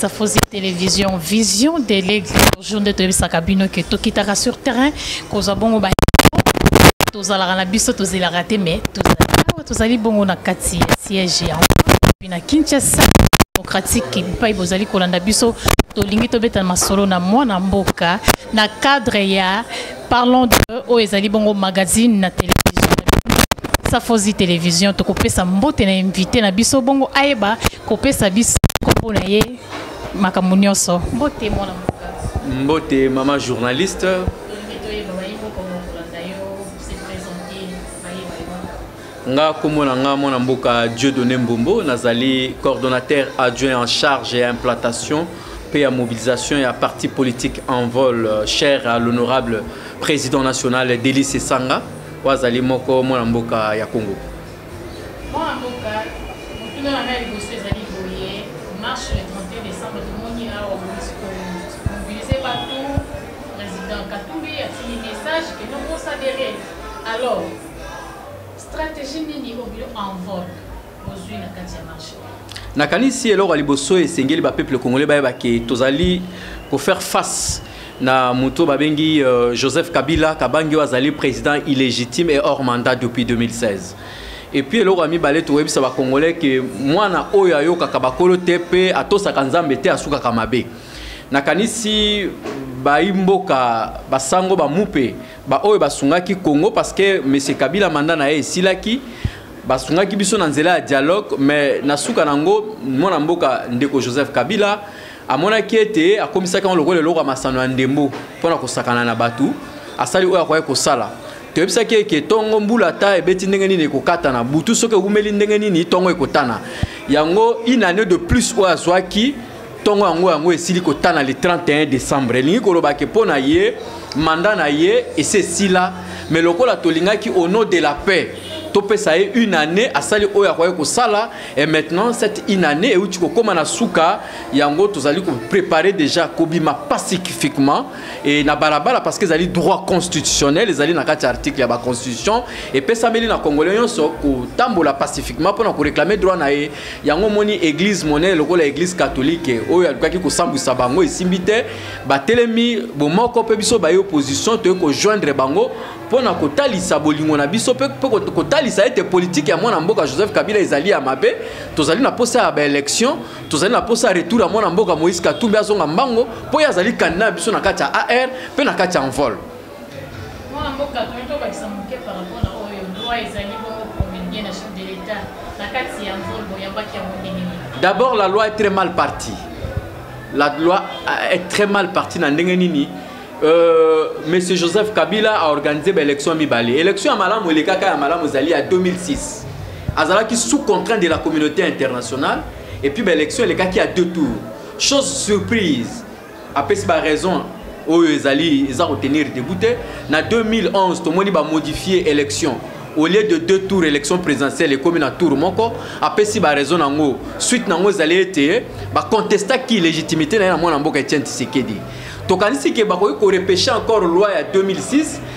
Safozi Télévision, Vision de l'Aigle, jour de toyebisaka bino ke tokitaka sur terrain kozwa bongo ba tozalaka na biso tozelaka te mais awa tozali bongo na kati ya siège ya na Kinshasa démocratique epai bozali kolanda biso tolingi tobeta masolo na mwana mboka na cadre ya Parlons de oyo ezali bongo magazine na tele Safozi Télévision tokopesa mbote na invité na biso bongo ayeba kopesa biso kombo na ye makambo nyonso mbote mwana mbote mama journaliste nga kombo na nga mwana mboka dieu donne mbombo nazali coordonnateur adjoint en charge ya implantation mpe ya mobilisation ya parti politique en vol euh, cher à l'honorable président national delis esanga oyo azali moko mwana mboka ya congo mwana mboka motuna na ngai liboso ezali boye marche le 31 décembre tomoni awa mobilise bato président katumbi atindi message que non kosadere alors Strategie nini au bureau en vogue bozui na kati ya marché nakanisi eloko ya liboso esengeli bapeuple congolais bayeba ke tozali kofaire face na moto babengi euh, joseph kabila kabangi oyo azali président illégitime et hors mandat depuis 2016 epuis eloko ya mibale tokoyebisa bacongolais ke mwana oyo ayokaka bakolo te mpe atosaka nzambe te asukaka mabe nakanisi baimboka basango bamupe ba oyo basungaki Congo parce que monsieur Kabila mandat na ye esilaki basungaki biso na nzela ya dialogue mais na suka nango mwana mboka ndeko Joseph Kabila amonaki ete akomisaki yango lokola eloko ya masano ya ndembo mpo na kosakana na bato asali oyo akoki kosala toyebisaki eke ntongo mbula ata ebeti ndenge nini ekokata na butu soki ewumeli ndenge nini ntongo ekotana yango une année de plus oyo azwaki ntongo yango yango esili kotana le 31 décembre elingi koloba ke mpo na ye manda na ye esi esila me lokola tolingaki au nom de la paix topesa ye une année asali oyo akoki kosala et maintenant cette une année euti kokóma na suka yango tozali koprépare déjà kobima pacifiquement e na balabala parce que ezali droit constitutionnel ezali na kati ya article ya baconstitution epesameli na congolais nyonso kotambola pacifiquement mpo na koréclame droit na ye yango omoni eglize monene lokola eglize katolike oyo alukaki kosambwisa bango esimbi te batelemi bomoko mpe biso baye opposition toyei kojoindre bango mpo na kotalisa bolingo na biso mpe kotalisa ete politike ya mwana mboka joseph kabila ezali ya mabe tozali na mposa ya baelection tozali na mposa ya retour ya mwana mboka moïse katumbi azonga mbango mpo ye azali kandida na biso na kati ya ar mpe na kati ya envol mwana mboka toni tobakisa moke par rapport na oyo loi ezali bongo promulgue na chef de l'état na kati ya nzolo boyambaki yango ndenge nini d'abord la loi est très mal partie la loi est très mal partie na ndenge nini Euh, monsieur joseph kabila a organisé baélection ya mibale élection ya malamu elekaka ya malamu ezali ya 2006 azalaki sous contraint de la communauté internationale et puis baélection elekaki ya deux tours chose surprise apesi ba raison oyo ezali eza kotenir debout te na 2011 tomoni bamodifie élection au lieu de deux tours élection présidentielle ekomi na tour moko apesi baraison yango suite nango ezali ete bacontestaki légitimité na ye na mwana mboka etienne tisekedi tokanisi ke bakoki korepeshe encore loi ya 2006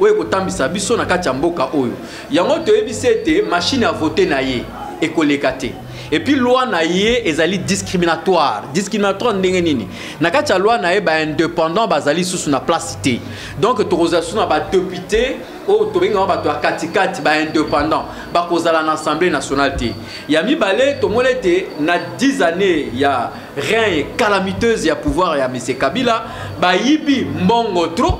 oyo ekotambisa biso na kati ya mboka oyo yango toyebisi ete mashine ya vote na ye ekoleka te epuis loi na ye ezali discriminatoire discriminatoire ndenge nini na kati ya loi na ye baindépendant bazali susu na place te donc tokozala susu na badepute oyo tobengaka bato ya katikati baindépendant bakozala na assemblée nationale te ya mibale tomoni ete na 10 années ya rein calamiteuse ya pouvoir ya mise kabila bayibi mbongo trop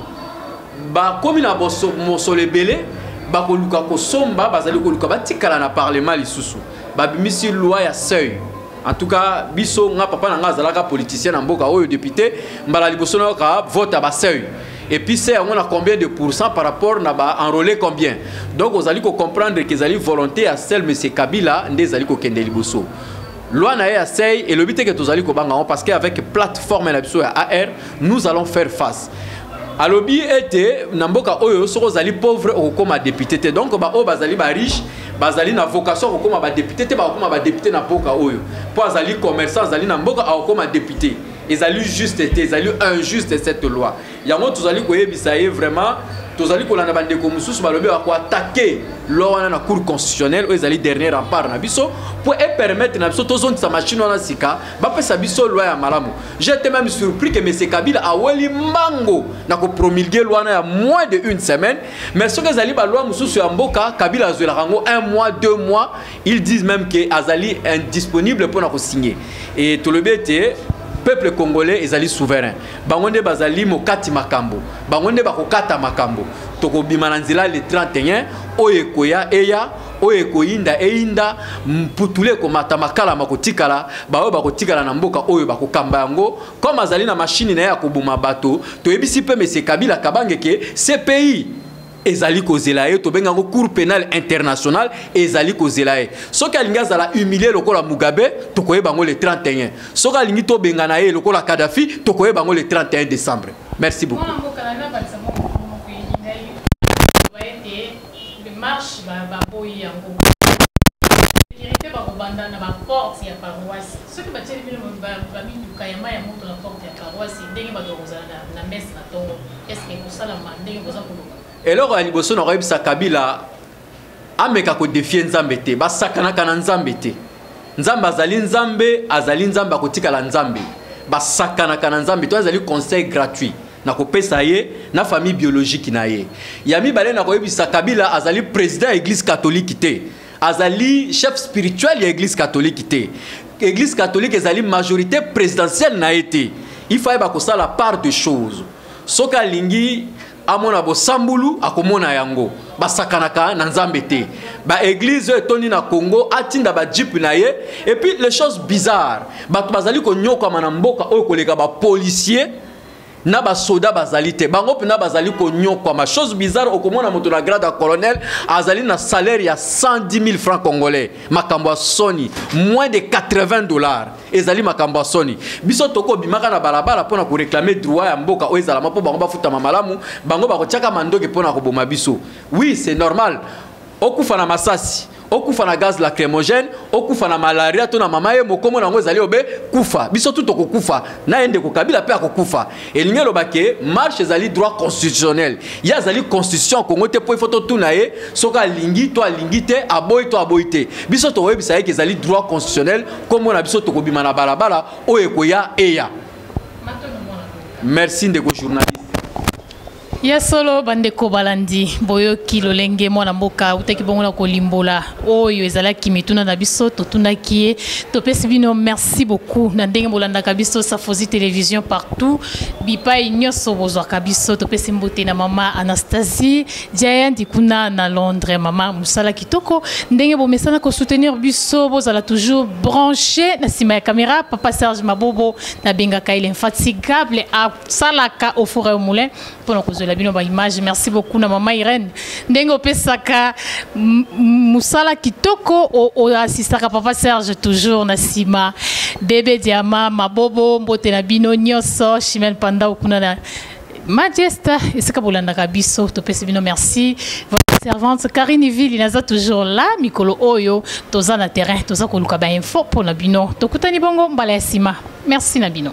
bakomi na mosolo ebele bakoluka kosomba bazali koluka batikala na parlement lisusu babimisi loi ya seuil en tout cas biso nga papa na nga azalaka politicien na mboka oyo député mbala liboso nayoka vote ya baseuil et puis c'est yango na combien de pourcent par rapport na ba enrôlé combien donc ozali kocomprendre ke ezali volonté ya sel monsieur kabila nde ezali kokende liboso loi na ye ya sei elobi te ke tozali kobanga yango parce que avec plateforme na biso ya ar nous allons faire face alobi ete na mboka oyo soki ozali pauvre okokoma depute te donc baoyo bazali bariche bazali na vocation ya kokoma badepute te bakokoma badepute na mboka oyo mpo azali commerçant azali na mboka akokoma depute ezali juste te ezali injuste cette loi yango tozali koyebisa ye vraiment tozali kolanda bandeko mosusu balobi bakoatake loi wana na cour constitutionnelle oyo ezali dernier rempart na biso mpo epermettre na biso tozongisa machine wana sika bapesa biso loi ya malamu jete même surpris ke mese kabila aweli mbango na kopromulgue loi wana ya moins de une semaine mais soki ezali baloi mosusu ya mboka kabila azwelaka yango un mois deux mois ils disent même ke azali indisponible mpo na kosigne e tolobi ete peuple congolais ezali souverain bango nde bazali mokati makambo bango nde bakokata makambo tokobima na nzela le 31 oyo ekoya eya oyo ekoyinda eyinda mputulu ekomata makala makotikala baoyo bakotikala na mboka oyo bakokamba yango comme azali na mashini na ye ya koboma bato toyebisi mpe mese kabila kabange ke cpi ezali kozela ye tobenga yango cour pénal international ezali kozela ye soki alingi azala humilie lokola mugabe tokoyeba yango le 31 soki alingi tobengana ye lokola kadafi tokoyeba yango le 31 décembre merci beaucoup marche baboyi yango sekirite bakobanda na baporte ya paroisse Soki batieli bino ba mituka ya mayi ya moto na porte ya paroisse, ndenge bato bakozala na messe na tongo, est ce que ekosalama ndenge boza koloba? Eloko ya liboso na koyebisa Kabila ameka ko défier Nzambe te, basakanaka na Nzambe te. Nzambe azali Nzambe, azali Nzambe akotikala Nzambe. Basakanaka na Nzambe to azali conseil gratuit na kopesa ye na famille biologique na ye. Ya mibale na koyebisa Kabila azali président ya église catholique te. azali chef spirituel ya église catholique te église catholique ezali majorité présidentielle na ye te il faut ayeba kosala part de choses soki alingi amona bosambulu akomona yango basakanaka na nzambe te baeglize oyo etondi na congo atinda bajipe na ye epuis les choses bizarre bato bazali konyokwama na mboka oyo koleka bapolisier na basoda bazali te bango mpena bazali konyokwama chose bizarre okomona moto na grade ya colonel azali na salaire ya 110 000 francs congolais makambo ya soni moins de 80 dollars ezali makambo ya soni biso tokobimaka na balabala mpo na koreklame droit ya mboka oyo ezalama mpo bango bafutama malamu bango bakotiaka mandoki mpo na koboma biso oui c'est normal okufa na masasi okufa na gaz lacrymogène okufa na malaria to na mama ye mokomo na yango ezali obe kufa biso tu tokokufa na ye ndeko kabila mpe akokufa elingi eloba ke marche ezali droit constitutionnel ye azali constitution ya kongo te mpo ifo totuna ye soki alingi to alingi te aboyi to aboyi te biso tokoyebisa ye ke ezali droit constitutionnel nkombo na biso tokobima na balabala oyo ekoya eya merci ndeko journaliste ya solo bandeko balandi boyoki lolenge mwana mboka autaki bongo na kolimbola oyo ezalaki mituna na biso totunaki ye topesi bino merci beaucoup na ndenge bolandaka biso safosi television partout bipai nyonso bozwaka biso topesi mbote na mama anastasie jayandi kuna na londres mama mosala kitoko ndenge bomesana kosoutenir biso bozala toujours branche na nsima ya kamera papa serge mabobo nabengaka il infatigable salaka au four et au moulin mpona kozwela bino baimage merci beaucoup na mama irene ndenge opesaka mosala kitoko oasistaka papa serge toujours na nsima bebe diama mabobo mbote na bino nyonso chimel pandau kuna na majesta esika bolandaka biso topesi bino merci servante Karine Vili naza toujours là mikolo oyo toza na terrain toza koluka ba info pona bino tokutani bongo mbala ya sima merci na bino